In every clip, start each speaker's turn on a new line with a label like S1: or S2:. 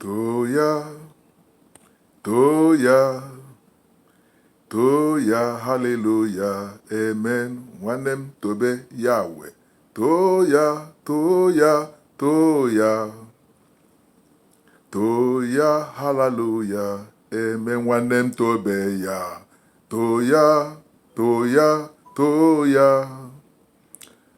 S1: Too ya, too ya, too ya, haleluya, amen. Nwanne m tobe ya we. Too ya, too ya, too ya. Too ya, haleluya, amen. Nwanne m tobe ya. Too ya, too ya, too ya.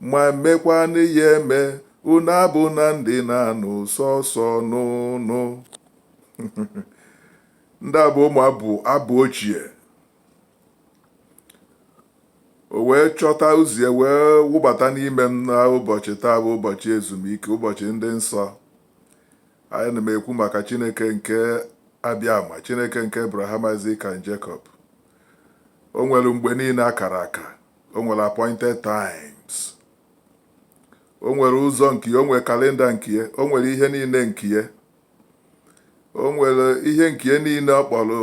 S1: Ma mekwanụ ya eme, unu abụna ndị na-anụ sọsọ ọnụnụ. ndị a bụ ụmụ abụ ochie o wee chọta ụzọ wee wụbata n'ime m na ụbọchị taa bụ ụbọchị ezumike ụbọchị ndị nsọ anyị na-ekwu maka chineke nke abịama chineke nke abraham isaac and jacob o nwere mgbe niile akara aka o nwere appointed times o nwere ụzọ nke ya o nwere kalenda nke ya o nwere ihe niile nke ya o nwere ihe nke ya niile ọ kpọrọ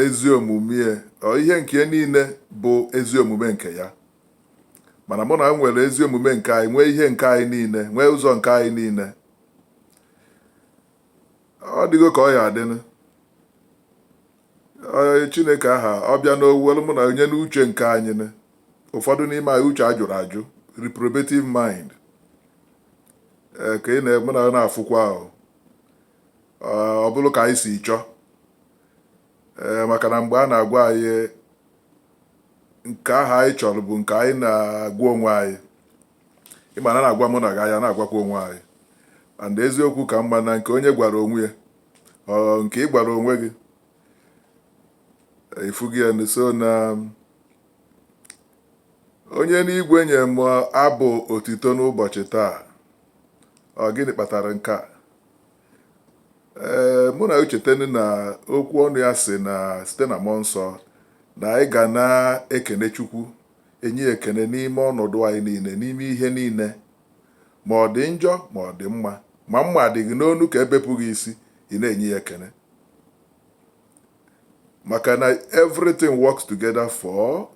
S1: ezi omume ya ọ ihe nke ya niile bụ ezi omume nke ya mana mụ na gị nwere ezi omume nke anyị nwee ihe nke anyị niile nwee ụzọ nke anyị niile ọ dịgo ka ọ ya-adịnụ Ee, Chineke aha ọ bịanụ o welu mụ na gị nye n'uche nke anyị ụfọdụ n'ime anyị uche a jụrụ ajụ reprobative mind ee ka ị na-afụkwa ahụ Ee, ọ bụrụ ka anyị si chọọ ee maka na mgbe a na-agwa anyị nke ahụ anyị chọrọ bụ nke anyị na-agwa onwe anyị ịma na a na-agwa mụ na gị anyị ana-agwakwa onwe anyị and eziokwu ka mma na nke onye gwara onwe ya ọ nke ị gwara onwe gị ị fụgo ya so na onye nwe igwe nye m abụ otito n'ụbọchị taa ọ gịnị kpatara nke a ee mana chetanụ na okwu ọnụ ya sị na site na mmụọ nsọ na anyị ga na-ekene chukwu enye ekene n'ime ọnọdụ anyị niile n'ime ihe niile Ma ọ dị njọ ma ọ dị mma, ma mma adị gị n'onu ka e bepụ gị isi, ị na-enye ya ekene. Maka na everything works together for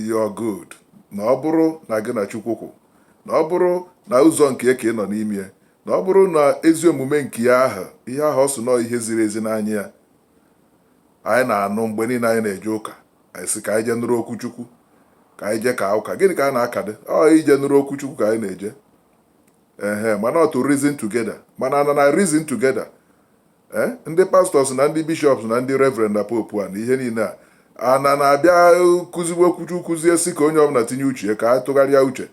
S1: your good, na ọ bụrụ na gị na Chukwu kwụ, na ọ bụrụ na ụzọ nke ya ka ị nọ n'ime ya, na ọ bụrụ na ezi omume nke ya ahụ, ihe ahụ ọ sị na ọ ihe ziri ezi n'anya ya, anyị na-anụ mgbe niile anyị na-eje ụka anyị sị ka anyị jee nụrụ okwu Chukwu ka anyị jee kaa ụka gịnị ka a na-akadụ ọ ije nụrụ okwu Chukwu ka anyị na-eje ehe mana ọ to reason together mana na na reason together eh, ndị pastors na ndị bishops na ndị reverend na pope na ihe niile a ana na-abịa kụziwe okwu Chukwu kụzie sị ka onye ọbụla tinye uche ka a tụgharịa uche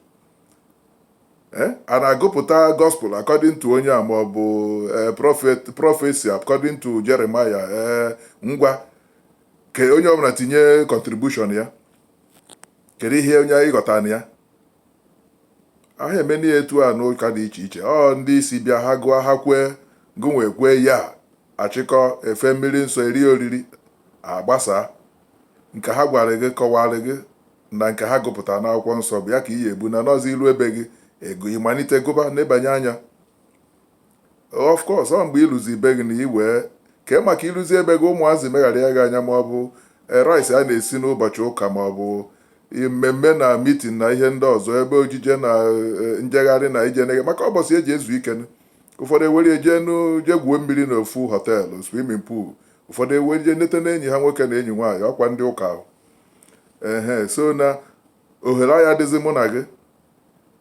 S1: Eh? a na-agụpụta gospel according to onye a ma ọ bụ eh, prophet prophecy according to Jeremiah eh, ngwa ka onye ọbụla tinye contribution ya kedu ihe onye ghọtara na ya aha emenụ ya etu a n'ụka dị iche iche ọ ndị isi bịa ha gụọ ha kwee gụnwa ekwee ya achịkọ e fee mmiri nsọ eri oriri agbasa Nke ha gwara gị, kọwaara gị na nke ha gụpụtara n'akwụkwọ nsọ bụ ya ka ị ya-ebu na nọzi iru be gị ego ịmalite gụba nebanye anya of course ọ mgbe i luzi be gị na i nwee ike maka i luzi be gị ụmụazị megharịa gị anya ma ọ bụ eh, rice a na-esi n'ụbọchị ụka ma ọ bụ eh, mmemme na mitin na ihe ndị ọzọ ebe ojije na eh, njegharị na ije nege maka ụbọchị eji ezu ike ụfọdụ ewere eje jee gwuo mmiri n'ofu họteelụ swimming pool ụfọdụ ewere je nleta na enyi ha nwoke na enyi nwaanyị ọkwa ndị ụka ahụ ehe so na ohere aya adịzi mụ na gị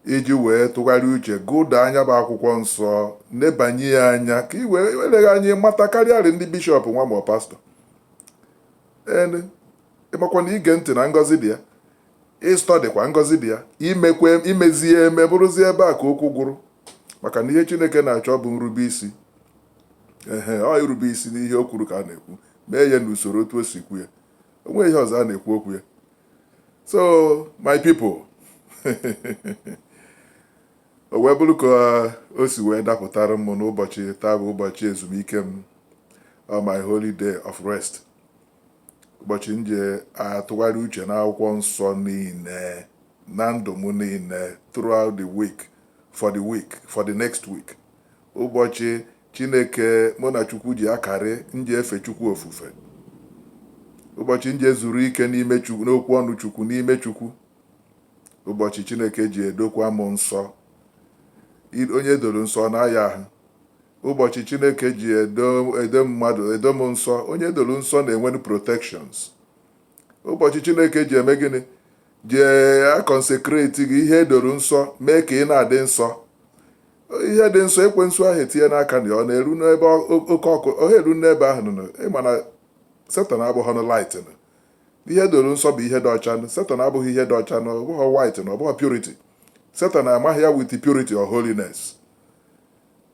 S1: iji wee tụgharịa uche gụda nya bụ akwụkwọ nsọ nebanye ya anya ka i wee eleghị anya mata karịarị ndị bishọp nwa ma pastọ ehe ịmakwa na ige ntị na ngọzi dị ya ị studykwa ngọzi dị ya imekwe imezie ya eme bụrụzie ebe a ka okwu gwụrụ maka na ihe chineke na-achọ bụ nrube isi ehe ọ irube isi n'ihe o kwuru ka a na-ekwu mee ya n'usoro otu o si kwu ya onweghị ihe ọzọ a na-ekwu okwu ya so my people o wee bụrụ ka o si wee dapụtara m n'ụbọchị taa bụ ụbọchị ezumike m uh, my holy day of rest ụbọchị m ji atụgharị uche n'akwụkwọ nsọ niile na ndụ m niile throughout the week for the next week Ụbọchị Chineke mụ na Chukwu ji akarị, m ji efe Chukwu ofufe. Ụbọchị m ji ezuru ike n'ime Chukwu, n'okwu ọnụ Chukwu, n'ime Chukwu. Ụbọchị Chineke ji edokwa m nsọ. I- Onye edoro nsọ ọ na-aya ahụ. Ụbọchị Chineke ji edo edo mmadụ, edo m nsọ, onye edoro nsọ na-enwenụ protections. Ụbọchị Chineke ji eme gịnị? Ji a-consecrate gị ihe edoro nsọ, mee ka ị na-adị nsọ. ihe dị nsọ ekwensu anaghị etinye ya aka na ọ na-eru n'ebe oke ọkụ ọ eru n'ebe ahụ nọ ịma na Satan abụghị ọnụ light nọ ihe edoro nsọ bụ ihe dị ọcha nọ Satan abụghị ihe dị ọcha nọ ọ bụghị white na ọ bụghị purity Satan amaghị ya with purity or holiness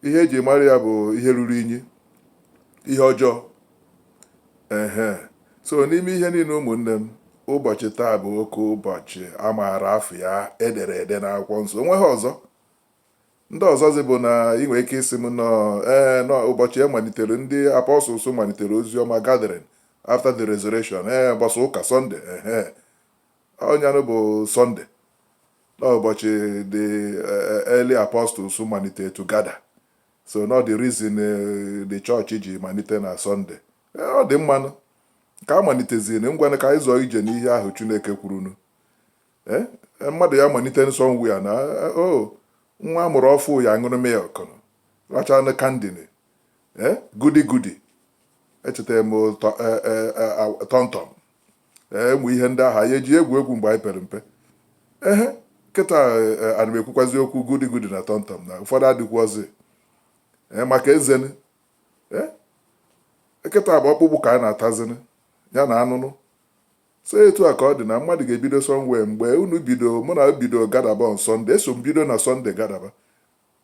S1: ihe eji mara ya bụ ihe ruru inyi ihe ọjọọ ehe so n'ime ihe niile ụmụnne m ụbọchị taa bụ oke ụbọchị a maara afa ya edere ede n'akwụkwọ nsọ onweghị ọzọ Ndị ọzọzi bụ na ị nwere ike ịsị m nọọ ee nọ ụbọchị e malitere ndị apostles malitere ozi ọma gathering after the resurrection ee ụbọchị ụka Sunday ehe ọ nyanụ bụ Sunday na ụbọchị the eh, early apostles malitere to gather so nọ the reason eh, the church ji malite na Sunday Eh, ọ dị mmanụ ka a maliteziri ngwanụ ka anyị zọọ ije n'ihe ahụ chineke kwurunu Eh, eh, mmadụ ya-amalitenụ somewhere na eh, o oh, nwa a mụrụ ọfụ ya-aṅụrụ milk rachanụ candy nụ eh, Goody Goody echetara m TomTom ụmụ ihe ndị ahụ anyị eji egwu egwu mgbe anyị pere mpe ehe kịta ana m ekwukwazi okwu Goody Goody na TomTom na ụfọdụ adịkwuozi maka ezeni kịta bụ ọkpụkpụ ka a na-atazini ya na anụnụ So etu a ka ọ dị na mmadụ ga-ebido somewhere mgbe unu bido, mụ na bido gadaba on Sunday, eso m bido na Sunday gadaba,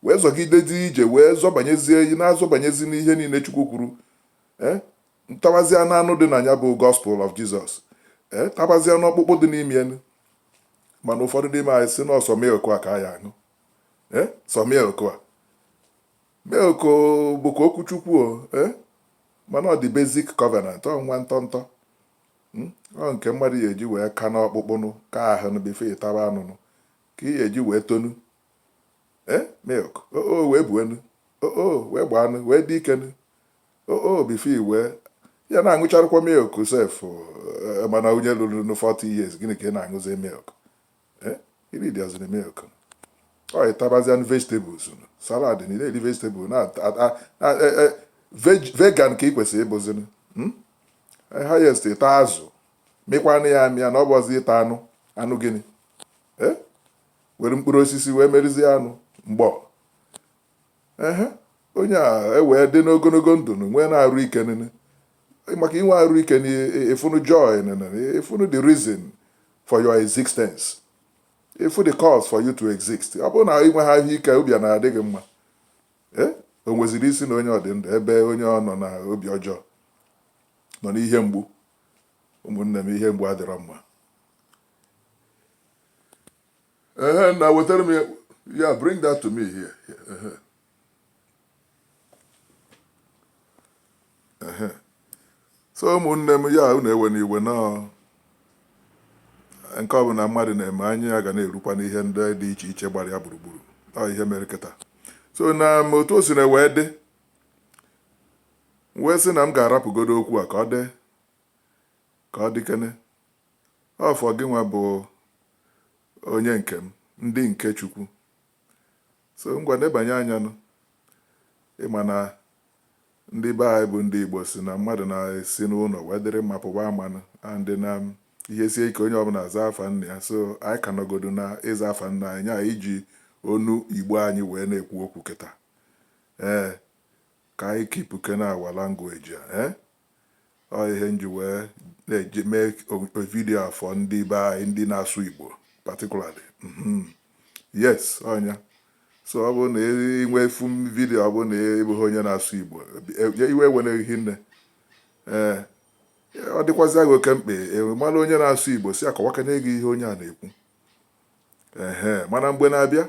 S1: wee zọgidezi ije wee zọbanyezie ị na-azọbanyezi n'ihe niile Chukwu kwuru ee tabazịa n'anụ dị na ya bụ Gospel of Jesus ee tabazịa n'ọkpụkpụ dị n'ime enu mana ụfọdụ n'ime anyị sị na ọ sọ milk a ka ha ya-aṅụ ee sọ milk a milk bụkwa okwu Chukwu o ee mana ọ dị basic covenant ọ nwa ntọntọ Hmm? ọ nke mmadụ ya-eji wee ka n'ọkpụkpụnụ ka ahụ nụ before ị taba anụnụ ka ị ya-eji wee tonu ee eh? milk oo oh, oh, wee buenu oo oh, wee gbaanụ wee dị ikenu oo before i wee ya na-aṅụcharụkwa milk sef eh, mana onye luru 40 years gịnị ka ị na-aṅụzi milk eh, ihe dịazịrị mma ọ ịtabazịanụ vegetables salad na iri vegetable na e, e, vegan ka ị kwesịrị ịbụzinu hmm? eh, highest ịta azụ mịkwanụ ya amịa na ọ bụzi ịta anụ anụ gịnị eh? were mkpụrụ osisi wee merizie anụ mgbọ ehe onye ewee dị n'ogologo ndụ nweenụ arụ ike nene maka inwe arụ ike na ịfụnụ joy nene ịfụnụ the reason for your existence ịfụ the cause for you to exist ọ bụrụ na inwe ha ahụ ike obi a na-adị gị mma eh? o nweziri isi na onye ọ dị ndụ ebe onye ọ nọ na obi ọjọọ nọ n'ihe mgbu ụmụnne m ihe mgbu adịrọ mma ehe na wetara m ya ya bring that to me here ehe ehe so ụmụnne m ya unu ewena iwe na nke ọ bụla mmadụ na-eme anya ya ga na-erukwa n'ihe ndị dị iche iche gbara ya gburugburu ọ ihe mere kịta so na otu o sina wee dị wee sị na m ga-arapụgodo okwu a ka ọ dị ka ọ dịkene, ọ for gịnwa bụ onye nke m, ndị nke Chukwu. So ngwa nebanye anya nụ. Ị ma na ndị be anyị bụ ndị Igbo sị na mmadụ na-esi n'ụlọ wee dịrị mma pụba ama nụ and na ihe sie ike onye ọbụla zaa afa nna ya so anyị ka nọgodu na ịza afa nna anyị anyị eji onu Igbo anyị wee na-ekwu okwu kịta. Ee, ka anyị keepkene our language a. Ee. ọ ihe nji wee na-eji mee vidio a for ndị be anyị ndị na-asụ Igbo particularly mhm. yes ọ ya so ọ bụ na i nwee fụ vidio ọ bụ na ị bụghị onye na-asụ Igbo e, iwe ewena gị nne ee ọ dịkwazịa gị oke mkpa ị mara onye na-asụ Igbo sị ya kọwakanye gị ihe onye a na-ekwu ee mana mgbe na-abịa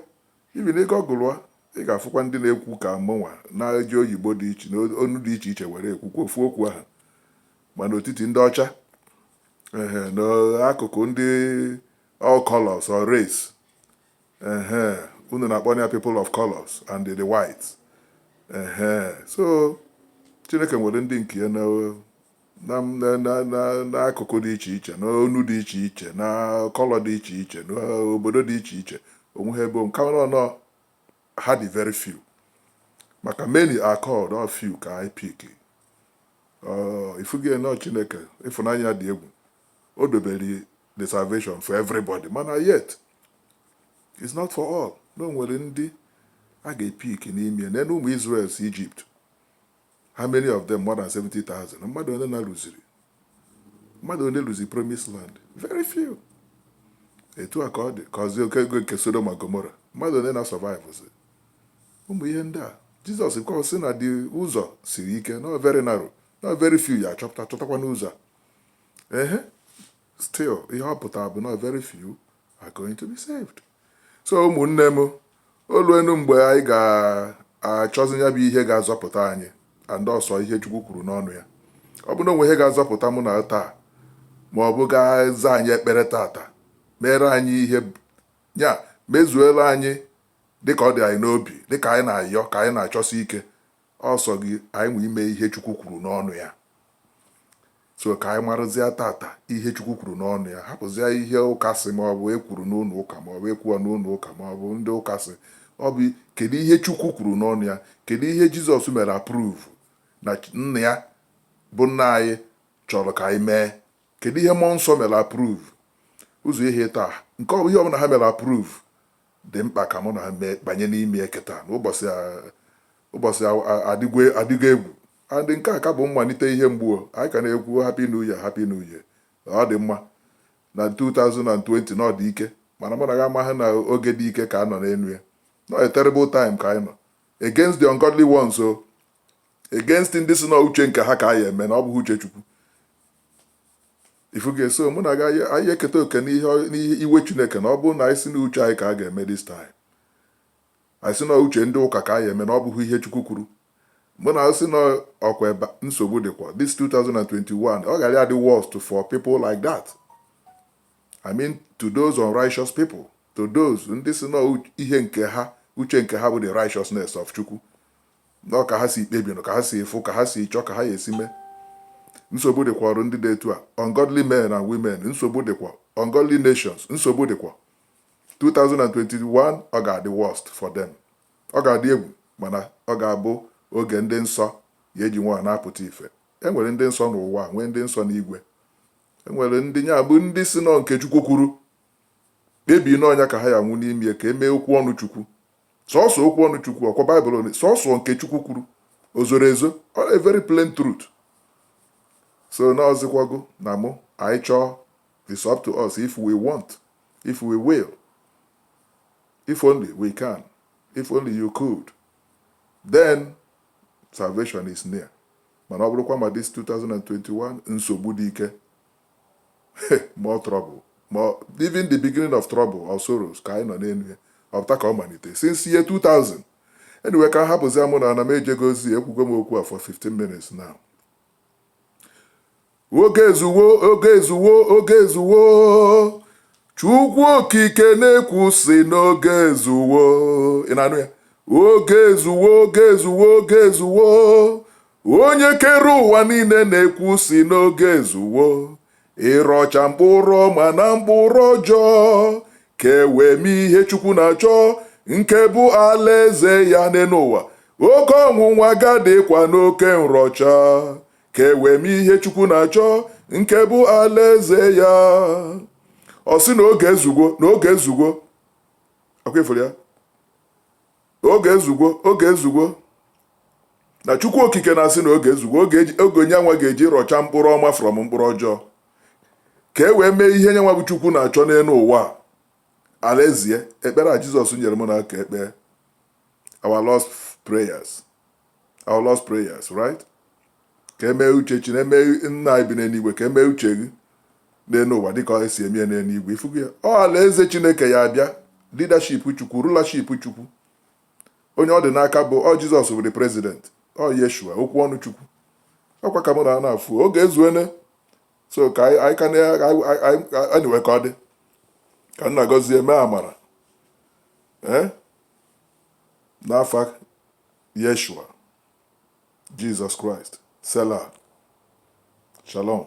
S1: Even ị gaa Google ya, ị ga-afụkwa ndị na-ekwu ka mụnwa na-eji oyibo dị iche na onu dị iche iche were ekwukwa ofu okwu ahụ ma n'etiti ndị ọcha ehe n'akụkụ ndị all colors or race ehe unu na-akpọ ya people of colors and the whites ehe so Chineke nwere ndị nke ya na n'akụkụ dị iche iche n'onu dị iche iche na color dị iche iche n'obodo dị iche iche onwe ha ebe nka nọ ha dị very few maka many are called ọ few ka a ya-epik ị fụgo na chineke ịfụnanya dị egwu o dobere the salvation for everybody mana yet it's not for all na o nwere ndị a ga-epik n'ime neenụ ụmụ Israel si Ijipt How many of them? More than 70,000. Mmadụ ole na luziri? Mmadụ ole luziri promise land? Very few. Etu a ka ọ dịkwazị oge nke Sodom na Gomora. Mmadụ ole na survive zi? Ụmụ ihe ndị a Jizọs kwa sị na the ụzọ siri ike na ọ very narrow na ọ very few ya-achọ chọtakwanụ ụzọ a. Ehe, still ihe ọ pụtara bụ na ọ very few are going to be saved so ụmụnne m o luenu mgbe anyị ga-achọzi ya bụ ihe ga-azọpụta anyị and ọ sọ ihe Chukwu kwuru n'ọnụ ya ọ bụ na o nwe ihe ga-azọpụta mụ na gị taa ma ọ bụ ga-aza anyị ekpere tata mere anyị ihe ya mezuela anyị dịka ọ dị anyị n'obi dịka anyị na-ayọ ka anyị na-achọsi ike Ọ sọ oge anyị nwe ime ihe Chukwu kwuru n'ọnụ ya. So ka anyị marụzịa tata ihe Chukwu kwuru n'ọnụ ya, hapụzịa ihe ụka sị ma ọ bụ e kwuru n'ụlọ ụka ma ọ bụ e kwuwa n'ụlọ ụka ma ọ bụ ndị ụka sị. Ọ bụ kedu ihe Chukwu kwuru n'ọnụ ya, kedu ihe Jizọs mere approve na nna ya bụ nna anyị chọrọ ka anyị mee, kedu ihe mmụọ nsọ mere approve. Ọ sọ ha atọ ka ihe ọbụla ha mere approve Dị mkpa ka mụ na gị banye n'ime ya kịta na ụbọchị adịgo egwu and nke a ka bụ mmalite ihe mgbu o anyị ka na-ekwu happy new year happy new year na ọ dị mma na 2020 na ọ dị ike mana mụ na gị amaghị na oge dị ike ka a nọ n'elu ya na ọ terrible time ka anyị nọ against the ungodly ones o against ndị si na uche nke ha ka a ya-eme na ọ bụghị uche Chukwu ifugo ya so mụ na gị ya-eketa oke n'ihe iwe chineke na ọ bụrụ na anyị sị na uche anyị ka a ga-eme this time anyị sị na uche ndị ụka ka anyị eme na ọ bụghị ihe chukwu kwuru mụ na-asị na ọkwa ebe nsogbu dịkwa this 2021 ọ gara adị worst for people like that i mean to those unrighteous people to those ndị sị na ihe nke ha uche nke ha bụ the righteousness of chukwu Na ọ ka ha si kpebi, ka ha si fụ, ka ha si chọọ, ka ha ya-esi mee. Nsogbu dịkwara ndị dị etu a, ungodly men and women, nsogbu dịkwa, ungodly nations, nsogbu dịkwa. 2021 ọ ga-adị worst for them. Ọ ga-adị egwu mana ọ ga-abụ oge ndị nsọ ya-eji nwayọ na-apụta ife. E nwere ndị nsọ n'ụwa a, nwee ndị nsọ n'igwe. E nwere ndị ya bụ ndị sị na ọ nke Chukwu kwuru, kpebi na ọ ya ka ha ya-anwụ n'ime ka e mee okwu ọnụ Chukwu. Sọsọ okwu ọnụ Chukwu, ọkwa Bible onye, sọsọ nke Chukwu kwuru, o zoro ezo, ọ a very plain truth. So na ọ zịkwa gị na mụ, anyị chọọ, it's up to us if we want, if we will, if only we can, if only you could, then salvation is near. Mana ọ bụrụkwa ma this 2021 nsogbu dị ike more trouble more even the beginning of trouble or sorrows ka anyị nọ n'elu ya ọ bụ taa ka ọ malite since year 2000 anyway ka hapụzia mụ na-ana m ejego ozi ekwugo m okwu a for 15 minutes now oge ezuwo oge ezuwo oge ezuwo chukwu okike na-ekwu sị na oge ezuwo ị na-anụ ya oge ezuwo oge ezuwo oge ezuwo Onye kere ụwa niile na-ekwu sị na oge ezuwo ịrọcha mkpụrụ ọma na mkpụrụ ọjọọ ka e wee mee ihe Chukwu na-achọ nke bụ alaeze ya n'elu ụwa oke ọnwụnwa ga-adịkwa n'oke nrọcha ka e wee mee ihe Chukwu na-achọ nke bụ alaeze ya ọ sị na oge ezugo na oge ezugo ọkwa ị fụrụ ya Oge ezugo, oge ezugo. Na Chukwu Okike na-asị na oge ezugo, oge eji- oge nya nwa ga-eji rọcha mkpụrụ ọma from mkpụrụ ọjọọ. Ka e wee mee ihe nya nwa bụ Chukwu na-achọ n'elu ụwa a. Alaeze ya, ekpere a Jizọs nyere m na aka ekpee. Our Lord's prayers. Our Lord's prayers, right? ka e mee uche chi na-eme nna anyị bi n'eluigwe ka e mee uche gị n'elu ụwa dịka e si eme ya n'eluigwe ifugo ya ọ alaeze chineke ya-abịa leadership chukwu rulership chukwu onye ọ dị n'aka bụ ọ jizọs bụ the president ọ yeshua okwu ọnụ chukwu ọkwa ka mụ na ana afụ oge ezuene so ka anyị ka anyway ka ọ dị ka nna gọzie mee amara ee eh? n'afa yeshua Jizọs Kraịst. Selah. Shalom.